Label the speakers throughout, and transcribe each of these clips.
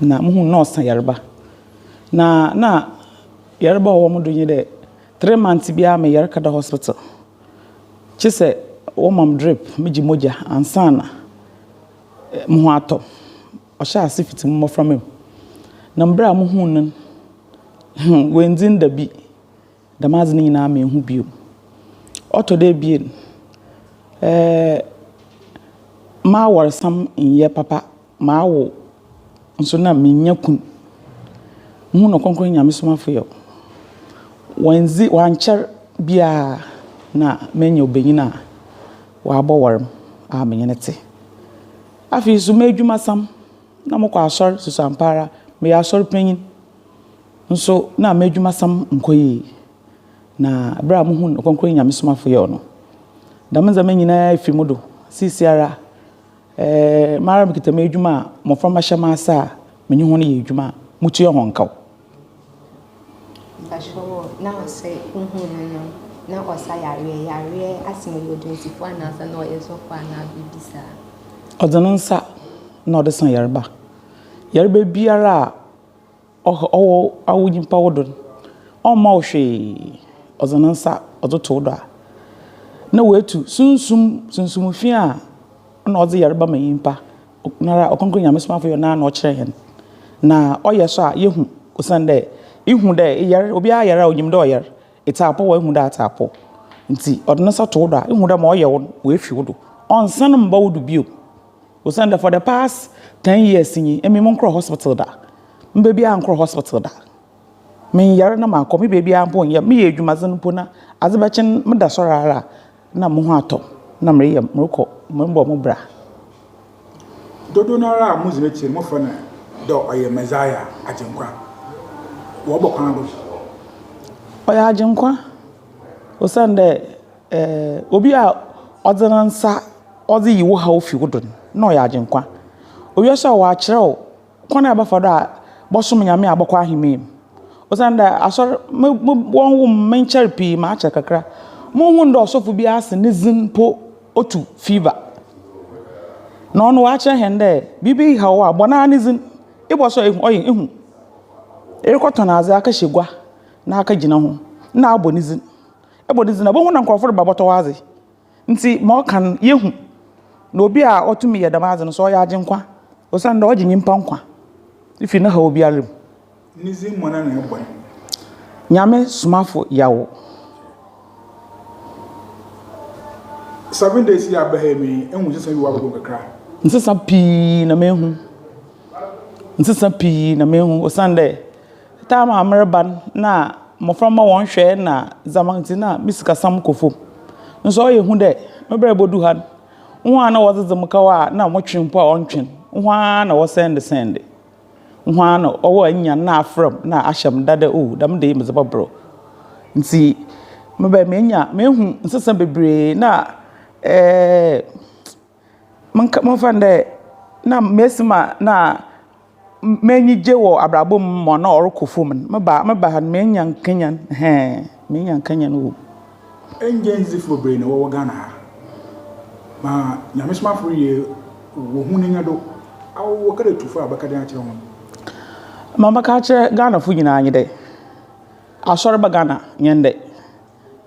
Speaker 1: na muhun na ɔsa yarba. Na na yarba a ɔwɔ mo do nye dɛ, three months biara meyar kɛda hospital, kyesɛ wɔma me drip, megye mogya ansaana moho atɔ me. Ɔhyɛɛ ase fitsi mo mboframba mu, na mber a muhun no no, hmm, oenndzin dabi. Dɛm adze no nyina mennhu bio. Ɔtɔ do ebien, m'awarsam nnyɛ papa, mawo nso na mennya kun. Muhun no krɔnkrɔn Nyame somafo yɛ, wɔanndzi wɔannkyɛr biara na menya ɔbanyin a ɔabɔwar me a menye no tse. Afei so m'edwumasam, na mokɔ asɔr susuampara, meyɛ asɔrpanyin. nso na m'edwumasɛm nnkɔ yie, na berɛ a mohuu Ɔkronkron Nyamesomafo Yaw no, dɛm ndzɛmba nyina fir mo do. Seseiara, eh, mara mekitsa m'edwuma a mboframba hyɛ m'ase a menye hɔn yɛ edwuma a mutua hɔn kaw. Mpakyɛw o, na ɔsɛ wohuu no no, na
Speaker 2: ɔsa yareɛ, yareɛ ase mu, ɔyɛ odwonsifoɔ anaasɛ
Speaker 1: na ɔyɛ sɔfoɔ anaa biribi saa? Ɔdze no nsa na ɔdze sa yarba. Yarba biara a Ɔwɔ awo nyimpa wo do no, ɔmma wo hwee, ɔdze ne nsa ɔdze to wo do a, na oetu sunsum, sunsum fi a nna ɔdze yarba ma nyimpa, noara Ɔkrɔnkrɔn Nyame Somafo yɛ Ɔnoara na ɔkyerɛ hɛn, na ɔyɛ so a yehu osiandɛ ihu dɛ eyar, obiara yar a onyim dɛ ɔyar, etse apɔw a ihu dɛ atse apɔw, ntsi ɔdze ne nsa to wo do a ihu dɛ ma ɔyɛ wo no oefi wo do, ɔnnsan mmba wo do bio. Osiandɛ for the past ten years nyi, emi monnkɔr hospital da, me beebiara annkɔr hospital da, mennyar na mannkɔ, me beebiara mpo nnyɛ, meyɛ edwumadzen mpo na adze bɛkyen meda sɔr ara a nna moho atɔ me na mereyɛ morokɔ morobɔ mo bra.
Speaker 3: Dodow no ara a modzi n'ekyir no mofrɛ no dɛ ɔyɛ Messiah, Agyenkwa, wɔ ɔbɔ kwan do. Ɔyɛ Agyenkwa, osiandɛ. Obi a ɔdze ne nsa ɔdze yi wo haw fi wo do no, nna ɔyɛ Agyenkwa. Owia so a ɔakyerɛ wo kwan a ebɛfa do a bɔsom Nyame a bɔkɔ ahemman mu. Osiandɛ Asɔr mo mo wɔnnwo me, mennkyɛr pii, makyɛr kakra. Munnhun dɛ ɔsɔfo bi ase ne dzin mpo otu fever. Na ɔno ɔakyerɛ hɛn dɛ biribi haw wo a, bɔ noara ne dzin. Ebɔ so a ehu ɔyɛ ehu. Erokɔtɔn adze akɛhyɛ gua na akɛgyina ho, nna abɔ ne dzin. bɔ ne dzin a, bohu na nkorɔfo reba bɔtɔw adze. Ntsi ma ɔka no, yehu. Na obi a ɔtum yɛ dɛm adze no so, ɔyɛ Agyenkwa, osiandɛ ɔgye nyimpa nkwa fi ne haw biara mu. Ne dzin mu ana na ebɔ no? Nyame
Speaker 1: Somafo Yaw.
Speaker 3: Seven days yi a aba ha yi, me ehu nsesa bi wɔ abɔdɔm kakra. Nsesa pii
Speaker 1: na mehu. Nsesa pii na mehu osiandɛ. Time a mereba no na mbofra mma wɔnnhwɛ na dza medze no a me sikasɛm kɔ famu. Naaso ɔyɛ hu dɛ me ber a bodu ha no, hɔn a nna wɔdze dze me kaw a nna motwe mpo a ɔnntwen, hɔn ara na wɔsɛɛndesɛɛnde. Hɔn ara na ɔwo a inya no na afora mu na ahyɛ me da dɛ oh dɛm da yi medze bɔbor wo. Ntsi mebɛn menya mehu nsesa beberee na ɛɛɛ. Monka momfa no dɛ na mesi ma na m'enyi gye wɔ abrabɔ mu ma ɔno a ɔrokɔ famu no, meba a meba ha no menya nkenyan hɛɛn, menya nkenyan o. Ngyedzifo
Speaker 3: beberee na wɔwɔ Ghana ha, ma nyamesomafo reyɛ wohu ne nyɛdo a wɔwɔ kɛdɛ tu fo a bɛkɛ dɛn akyerɛ hɔn? Ma
Speaker 1: mɛka akyerɛ Ghanafo nyina nye dɛ, Asɔr ba Ghana nyɛ ndɛ.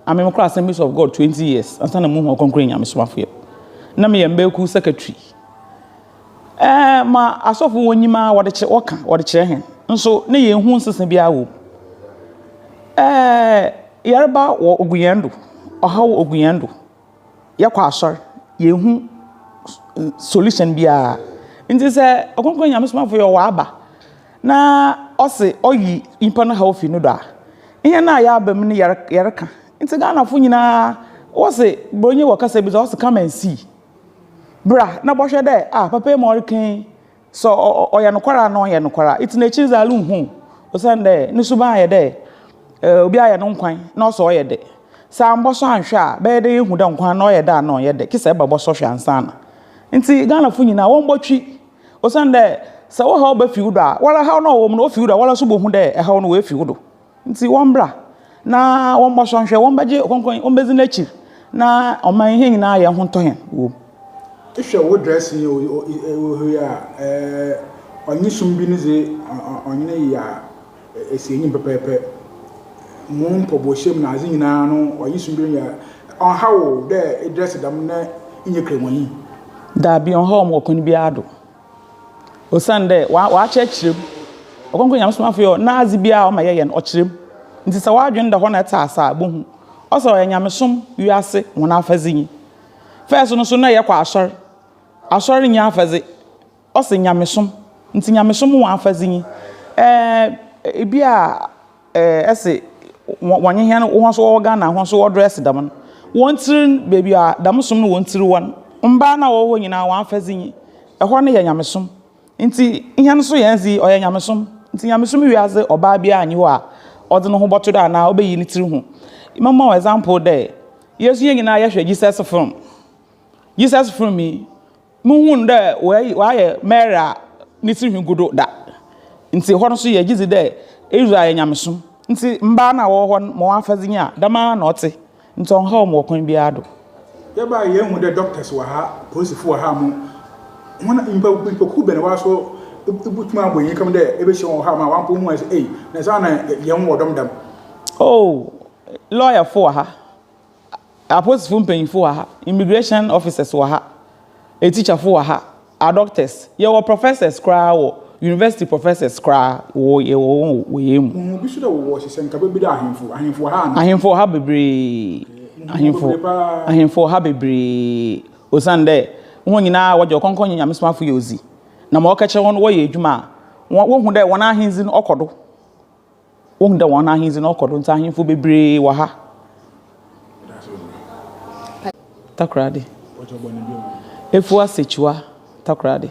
Speaker 1: Na me mekɔɔ Assemblies of God twenty years ansa na muhuu ɔkronkron nyamesomafoyɛ. Na meyɛ mmaa kuw secretary. Ɛɛ ma asɔfo wɔnyim ara wɔde kyerɛ wɔka wɔde kyerɛ hɛn nso na yennhu nsesa biara wɔ mu. Ɛɛ yarba wɔ ogu hɛn do, ɔhaw ogu hɛn do. yɛkɔ asɔr, yennhu solution biara. Ntsi sɛ ɔkrɔnkrɔn Nyame somafo yi ɔwɔ aba na ɔse ɔyi nyimpa no haw fi no do a, hɛn a yɛaba mu no yɛrekã. Ntsi Ghanafo nyina wɔse, Borɔnyi wɔ kasa bi dze ɔse come and see, bra na bɔhwɛ dɛ, ah papa yi ma ɔrekã yi, Sɛ ɔyɛ nokwar a, nna ɔyɛ nokwar a, etse n'ekyir dze ale nnhu wo, osiandɛ no suban ayɛ dɛ obi ayɛ no nkwan na ɔsɛ ɔyɛ dɛ. Sɛ ammbɔsɔ annhwɛ a, bɛyɛ dɛ yehu dɛ nkwan no ɔyɛ dɛ anaa ɔnnyɛ dɛ, kisa eba bɔsɔ hwɛ ansaana. Ntsi Ghanafo nyina wɔmbɔtwe, osiandɛ sɛ wo haw ba fi wo do a, woara haw no a ɔwɔ mu no ofi wo do a, woara so bohu dɛ haw no oefi wo do. Ntsi wɔmbra na wɔmbɔsɔ nhwɛ, wɔmbɛgye Ɔkrɔnkrɔnnyi, wɔmbedzi n'ekyir, na ɔman hɛn nyina ayɛ hɔntɔ hɛn wɔ mu. Ehwɛ
Speaker 3: wo dressing yi o ohoyɛ a eh ɔnye sum bi ne dze ɔnye no yɛ a esi enyim pɛpɛɛpɛ mo mpɔboahyia mu nadze nyina no ɔnye sum bi no yɛ a ɔnnhaw wo dɛ edress dɛm na ennyɛ kramanyi. Daabi
Speaker 1: ɔnnhaw me wɔ kwan biara do. Osiandɛ Ɔakyerɛkyerɛ mu. Ɔkrɔnkrɔn Nyamesomafo no yɛ hɔ na adze biara a Ɔma yɛyɛ no, Ɔkyerɛ mu. Ntsi sɛ w'adwen da hɔ na etse ase a, ibohu. Ɔse ɔyɛ Nyamesom wiase hɔn afɛdze nye. First no so nna yɛkɔ Asɔr. Asɔr nnyɛ afɛdze. Ɔse Nyamesom. Ntsi Nyamesom hɔn afɛdze nye. Ɛɛ, bi a. Ɛɛ ese wɔnye hɛn hɔn so wɔwɔ Ghana hɔn so wɔdress dɛm no hɔn tsir no beebi a dɛm som no hɔn tsir wɔ no mbaa no a wɔwɔ hɔ nyina hɔn afɛdze nye hɔ no yɛ nyamesom ntsi hɛn so hɛn dze ɔyɛ nyamesom ntsi nyamesom wiadze ɔbaa biara nnyi hɔ a ɔdze no ho bɔto do anaa obeyi ne tsir ho. Mɛma wo example dɛ yesu hɛn nyina yɛhwɛ Jesus film Jesus film yi Muhun dɛ wɔayi wɔayɛ Mary a ne tsirnhwi gu do da. Ntsi hɔ no so yɛgye dzi dɛ Israel yɛ nyamesom ntsi mbaa no a wɔwɔ hɔ no ma hɔn afadze nye a, dɛm ara na ɔtse, ntsi ɔnnhaw hom wɔ kwan biara do. Yɛbae a yennhu
Speaker 3: dɛ doctors wɔ ha, polisifo wɔ ha mo hɔn nyimpa nyimpakuw bɛn woara so ibotum abɔ hɛn kɛm dɛ ebehyia hɔn wɔ ha ma wɔammpa woho aedze ei na saana yɛnwɔ dɔm dɛm. Oh
Speaker 1: lɔɔyɛfo wɔ ha, Apolisifo mpanyimfo wɔ ha, immigration officers wɔ ha, atikyafo wɔ ha, adɔktɛs, yɛwɔ prɔfɛsɛs koraa wɔ yunivɛsiti prɔfɛsɛs koraa wɔ yɛwɔ wɔn wɔ yɛn mu. Ohun bi so dɛ wɔwɔ hyehyɛ nka
Speaker 3: bebi dɛ ahemfo, ahemfo wɔ ha ana? Ahemfo wɔ ha bebree,
Speaker 1: ahemfo, ahemfo wɔ ha bebree, osiandɛ hɔn nyina wɔgye ɔkɔnkɔn nye nyamesomafo yɛ odzi, na ma wɔkɛkyerɛ hɔn no wɔyɛ edwuma a, wohu dɛ hɔn ahendzi no ɔkɔ do. Wohu dɛ hɔn ahendzi no ɔkɔ do, ntsi ahemfo beberee wɔ ha. Takoradi. Efuwa Sekyiwa Takoradi.